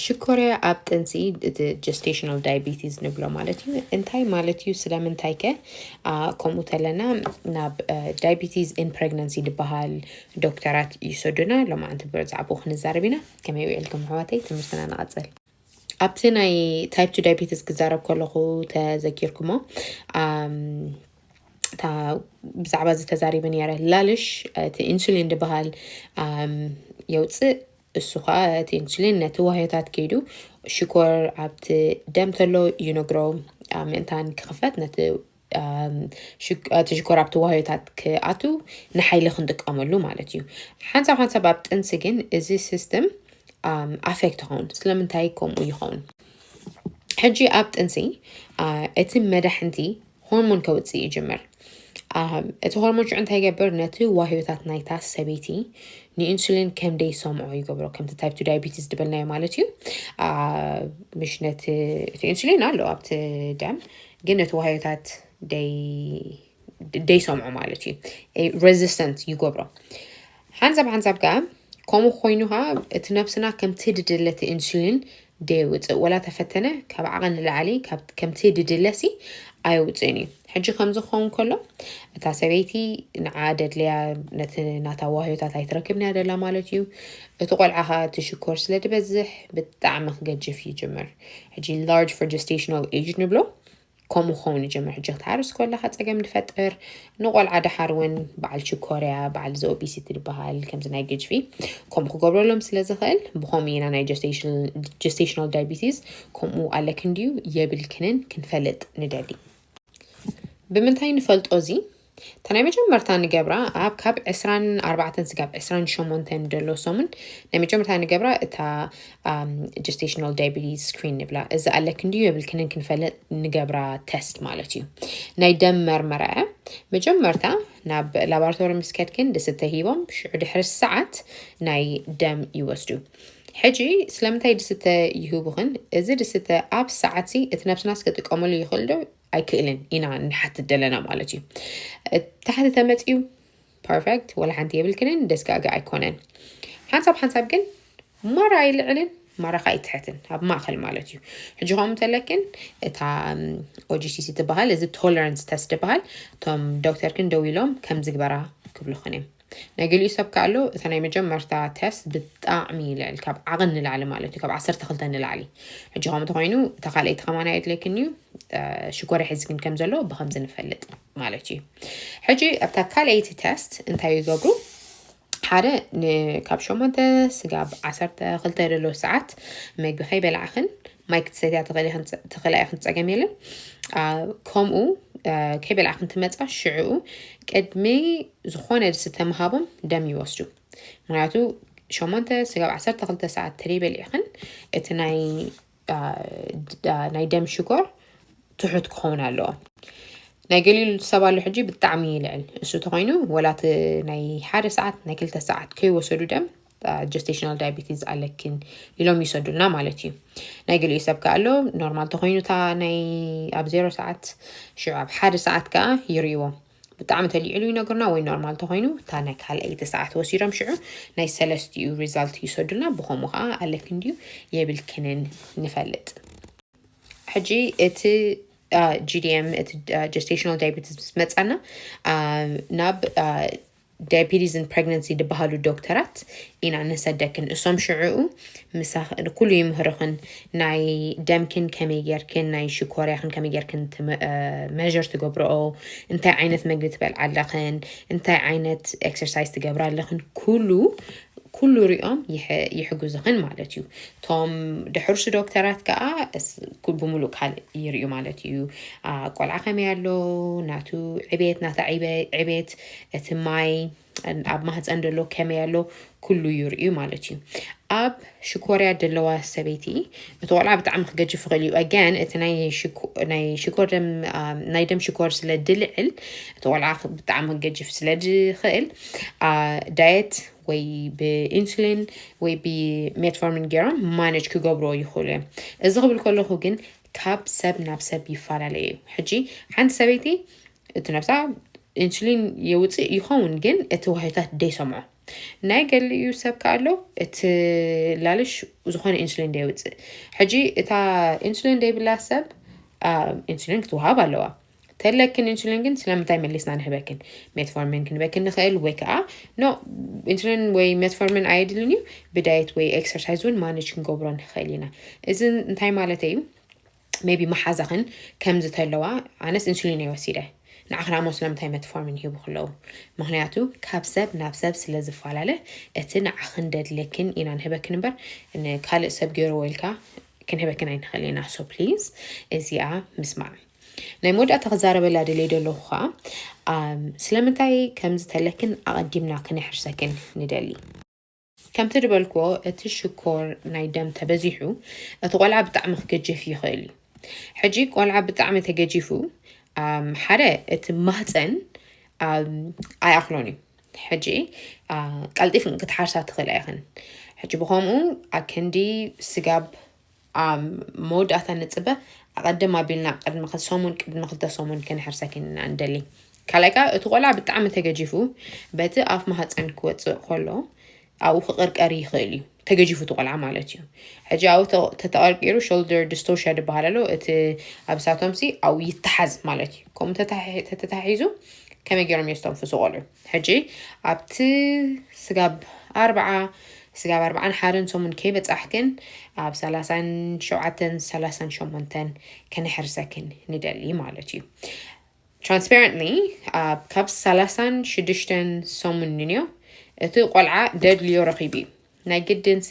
ሽኮርያ ኣብ ጥንሲ እቲ ጀስቴሽናል ዳያቤቲስ ንብሎ ማለት እዩ እንታይ ማለት እዩ ስለምንታይ ከ ከምኡ ተለና ናብ ዳያቤቲስ ኢን ፕሬግናንሲ ዝበሃል ዶክተራት ይሰዱና ሎማዓንቲ ብዛዕባኡ ክንዛረብ ኢና ከመይ ውዒልኩም ኣሕዋተይ ትምህርትና ንቐፅል ኣብቲ ናይ ታይፕ ቱ ዳያቤቲስ ክዛረብ ከለኹ ተዘኪርኩሞ እታ ብዛዕባ እዚ ተዛሪበ ነረ ላልሽ እቲ ኢንሱሊን ዝበሃል የውፅእ እሱ ኸኣ እቲ ኢንሱሊን ነቲ ዋህዮታት ከይዱ ሽኮር ኣብቲ ደም ተሎ ይነግሮ ምእንታን ክኽፈት ነቲ እቲ ሽኮር ኣብቲ ዋህዮታት ክኣቱ ንሓይሊ ክንጥቀመሉ ማለት እዩ ሓንሳብ ሓንሳብ ኣብ ጥንሲ ግን እዚ ሲስተም ኣፌክት ይኸውን ስለምንታይ ከምኡ ይኸውን ሕጂ ኣብ ጥንሲ እቲ መዳሕንቲ ሆርሞን ከውፅእ ይጅምር እቲ ሆርሞን ሽዑ እንታይ ይገብር ነቲ ዋህዮታት ናይታ ሰበይቲ ንኢንሱሊን ከም ደይሰምዖ ይገብሮ ከምቲ ታይፕ ቱ ዳያቤቲስ ዝበልናዮ ማለት እዩ ምሽ ነቲ እቲ ኢንሱሊን ኣሎ ኣብቲ ደም ግን ነቲ ዋህዮታት ደይሰምዖ ማለት እዩ ሬዚስተንት ይገብሮ ሓንሳብ ሓንሳብ ከኣ ከምኡ ኮይኑ ከኣ እቲ ነብስና ከምቲ ድድለ እቲ ኢንሱሊን ደየውጽእ ወላ ተፈተነ ካብ ዓቐን ንላዕሊ ከምቲ ድድለሲ ኣየውጽእን እዩ ሕጂ ከምዚ ክኸውን ከሎ እታ ሰበይቲ ንዓ ደድልያ ነቲ ናታ ዋህዮታት ኣይትረክብን እያ ደላ ማለት እዩ እቲ ቆልዓ ከኣ እቲ ሽኮር ስለ ድበዝሕ ብጣዕሚ ክገጅፍ ይጅምር ሕጂ ላርጅ ፎር ጀስቴሽናል ኤጅ ንብሎ ከምኡ ክኸውን ይጀምር ሕጂ ክትሓርስ ኮለኻ ጸገም ድፈጥር ንቆልዓ ድሓር እውን በዓል ችኮርያ በዓል እዚ ኦቢሲቲ ድበሃል ከምዚ ናይ ግጅፊ ከምኡ ክገብረሎም ስለ ዝኽእል ብኸምኡ ኢና ናይ ጀስቴሽናል ዳይቢቲስ ከምኡ ኣለክን ድዩ የብልክንን ክንፈልጥ ንደሊ ብምንታይ ንፈልጦ እዚ እታ ናይ መጀመርታ ንገብራ ኣብ ካብ ዕስራን ኣርባዕተን ስጋብ ዕስራን ሸሞንተን ደሎ ሰሙን ናይ መጀመርታ ንገብራ እታ ጀስቴሽናል ዳያቤቲስ ስክሪን ንብላ እዚ ኣለክ እንድዩ የብልክንን ክንፈለጥ ንገብራ ተስት ማለት እዩ ናይ ደም መርመራ እያ መጀመርታ ናብ ላቦራቶሪ ምስ ከድክን ድስተ ሂቦም ሽዑ ድሕሪ ሰዓት ናይ ደም ይወስዱ ሕጂ ስለምንታይ ድስተ ይህቡኽን እዚ ድስተ ኣብ ሰዓትሲ እቲ ነብስናስ ክጥቀመሉ ይኽእል ዶ ኣይክእልን ኢና ንሓትት ደለና ማለት እዩ ታሕቲ ተመፅዩ ፐርፌክት ወላ ሓንቲ የብልክንን ደስጋገ ኣይኮነን ሓንሳብ ሓንሳብ ግን ማራ ኣይልዕልን ማራ ከዓ ይትሕትን ኣብ ማእኸል ማለት እዩ ሕጂ ከምኡ እንተለክን እታ ኦጂሲሲ ትበሃል እዚ ቶለረንስ ተስ ትበሃል እቶም ዶክተር ግን ደው ኢሎም ከም ዝግበራ ክብልኹን እዮም ናይ ገሊኡ ሰብ ከኣ ኣሎ እታ ናይ መጀመርታ ተስት ብጣዕሚ ልዕል ካብ ዓቕን ንላዕሊ ማለት እዩ ካብ ዓሰርተ ክልተ ንላዕሊ ሕጂ ከምኡ ተኮይኑ እታ ካልኣይቲ ከማና የድለይክን እዩ ሽኮር ይሕዝክን ከም ዘሎ ብከምዚ ንፈልጥ ማለት እዩ ሕጂ ኣብታ ካልኣይቲ ተስት እንታይ ይገብሩ ሓደ ካብ ሸሞንተ ስጋብ ዓሰርተ ክልተ ዘሎ ሰዓት መግቢ ከይበላዕኽን ማይ ክትሰትያ ተኽእላ ኢኽን ፀገም የለን ከምኡ ከይበልዓ ክንትመፃ ሽዕኡ ቅድሚ ዝኾነ ዝስተ ምሃቦም ደም ይወስዱ ምክንያቱ ሸሞንተ ስጋብ ዓሰርተ ክልተ ሰዓት ተደይበሊዕኽን እቲ ናይ ደም ሽኮር ትሑት ክኸውን ኣለዎ ናይ ገሊሉ ሰብ ኣሎ ሕጂ ብጣዕሚ ይልዕል እሱ ተኮይኑ ወላ እቲ ናይ ሓደ ሰዓት ናይ ክልተ ሰዓት ከይወሰዱ ደም ጀስቴሽናል ዳያቤቲስ ኣለኪን ኢሎም ይሰዱልና ማለት እዩ ናይ ገሊኡ ሰብ ከዓ ኣሎ ኖርማል ተኮይኑ እታ ናይ ኣብ ዜሮ ሰዓት ሽዑ ኣብ ሓደ ሰዓት ከዓ ይርእዎ ብጣዕሚ ተሊዕሉ ይነግርና ወይ ኖርማል ተኮይኑ እታ ናይ ካልኣይቲ ሰዓት ወሲዶም ሽዑ ናይ ሰለስትኡ ሪዛልት ይሰዱልና ብከምኡ ከዓ ኣለኪን ድዩ የብልክንን ንፈልጥ ሕጂ እቲ ጂዲኤም እቲ ጀስቴሽናል ዳያቤቲስ ምስ መፃና ናብ ዳያፒቲስ ን ፕረግነንሲ ድበሃሉ ዶክተራት ኢና ንሰደክን እሶም ሽዑኡ ምሳክ ኩሉ ይምህርክን ናይ ደምክን ከመይ ጌርክን ናይ ሽኮርያክን ከመይ ጌርክን መዠር ትገብርኦ እንታይ ዓይነት መግቢ ትበልዓ ኣለክን እንታይ ዓይነት ኤክሰርሳይዝ ትገብራ ኣለክን ኩሉ ኩሉ ሪኦም ይሕግዙክን ማለት እዩ ቶም ድሕርሱ ዶክተራት ከዓ ብሙሉእ ካልእ ይርዩ ማለት እዩ ቆልዓ ከመይ ኣሎ ናቱ ዕቤት ናታ ዕቤት እቲ ማይ ኣብ ማህፀን ደሎ ከመይ ኣሎ ኩሉ ይርእዩ ማለት እዩ ኣብ ሽኮርያ ደለዋ ሰበይቲ እቲ ቆልዓ ብጣዕሚ ክገጅፍ ይኽእል እዩ ኣጋን እቲ ናይ ሽኮር ደም ናይ ደም ሽኮር ስለ ድልዕል እቲ ቆልዓ ብጣዕሚ ክገጅፍ ስለ ዝኽእል ዳየት ወይ ብኢንሱሊን ወይ ብሜትፎርሚን ገይሮም ማነጅ ክገብሮ ይኽእሉ እዮም እዚ ክብል ከለኹ ግን ካብ ሰብ ናብ ሰብ ይፈላለ እዩ ሕጂ ሓንቲ ሰበይቲ እቲ ነብሳ ኢንሱሊን የውፅእ ይኸውን ግን እቲ ዋህዮታት ደይሰምዖ ናይ ገሊኡ ሰብ ከ ኣሎ እቲ ላልሽ ዝኾነ ኢንሱሊን ደይውፅእ ሕጂ እታ ኢንሱሊን ደይብላ ሰብ ኢንሱሊን ክትወሃብ ኣለዋ ተለክን ኢንሱሊን ግን ስለምንታይ መሊስና ንህበክን ሜትፎርሚን ክንበክን ንኽእል ወይ ከዓ ኖ ኢንሱሊን ወይ ሜትፎርሚን ኣየድልን እዩ ብዳየት ወይ ኤክሰርሳይዝ እውን ማነጅ ክንገብሮ ንኽእል ኢና እዚ እንታይ ማለት እዩ ሜቢ መሓዛኽን ከምዚ ተለዋ ኣነስ ኢንሱሊን እየ ወሲደ ንዓኽን ኣሞ ስለምንታይ መትፎርሚን ሂቡ ክለዉ ምኽንያቱ ካብ ሰብ ናብ ሰብ ስለ ዝፈላለ እቲ ንዓኽን ደድልየክን ኢና ንህበክን እምበር ንካልእ ሰብ ገይርዎ ኢልካ ክንህበክን ኣይንኽእል ኢና ሶ ፕሊዝ እዚኣ ምስማዕ ናይ መወዳእታ ክዛረበላ ደለይ ደለኹ ከዓ ስለምንታይ ከምዚ ተለክን ኣቐዲምና ክነሕርሰክን ንደሊ ከምቲ ድበልክዎ እቲ ሽኮር ናይ ደም ተበዚሑ እቲ ቆልዓ ብጣዕሚ ክገጀፍ ይኽእል እዩ። ሕጂ ቆልዓ ብጣዕሚ ተገጂፉ ሓደ እቲ ማህፀን ኣይኣኽሎን እዩ ሕጂ ቀልጢፍን ክትሓርሳ ትኽእላ ኢኽን ሕጂ ብኸምኡ ኣክንዲ ስጋብ ኣብ መወዳእታ ንጽበ ኣቐድም ኣቢልና ቅድሚ ሰሙን ቅድሚ ክልተ ሰሙን ክንሕርሰኪን ኢና እንደሊ ካልኣይ ከዓ እቲ ቆልዓ ብጣዕሚ ተገጂፉ በቲ ኣፍ ማህፀን ክወፅእ ከሎ ኣብኡ ክቕርቀር ይኽእል እዩ ተገጂፉ እቲ ቆልዓ ማለት እዩ ሕጂ ኣብኡ ተተቐርቂሩ ሾልደር ዲስቶርሽያ ዝበሃል ኣሎ እቲ ኣብ ሳቶምሲ ኣብኡ ይተሓዝ ማለት እዩ ከምኡ ተተታሒዙ ከመይ ገይሮም እዮም ዝተንፍሱ ቆልዑ ሕጂ ኣብቲ ስጋብ ኣርብዓ ስጋብ ኣርብዓን ሓደን ሰሙን ከይበጻሕክን ኣብ ሰላሳን ሸውዓተን ሰላሳን ሸሞንተን ከነሕርሰክን ንደሊ ማለት እዩ ትራንስፓረንትሊ ኣብ ካብ ሰላሳን ሽዱሽተን ሰሙን ንንዮ እቲ ቆልዓ ደድልዮ ረኺቡ እዩ ናይ ግድንሲ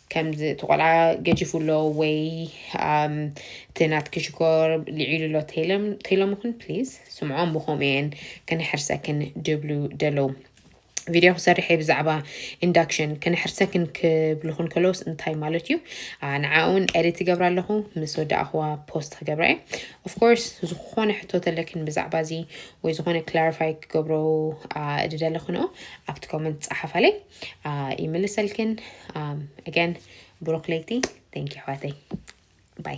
ከምዚ እቲ ቆልዓ ገጂፉ ኣሎ ወይ ኣም፣ እቲ ናትኪ ሽኮር ልዒሉ ኣሎ ተይሎም ተይሎምኽን ፕሊዝ ስምዖም ብኸምኡ እየን ከነሕርሰክን ድብሉ ደለዉ ቪድዮ ክሰርሕ እየ ብዛዕባ ኢንዳክሽን ከነሕርሰክን ክብልኹን ከለውስ እንታይ ማለት እዩ ኣ፣ ንዓ እውን ኤዲት ትገብራ ኣለኹ ምስ ወዳእኽዋ ፖስት ክገብራ እየ ኦፍኮርስ ዝኾነ ሕቶ ተለክን ብዛዕባ እዚ ወይ ዝኾነ ክላሪፋይ ክገብሮ ኣ፣ እድደለኽንኦ ኣብቲ ኮመንት ፀሓፋለይ ይምልሰልክን ኣገን ብሩክ ለይቲ ቴንኪ ኣሕዋተይ ባይ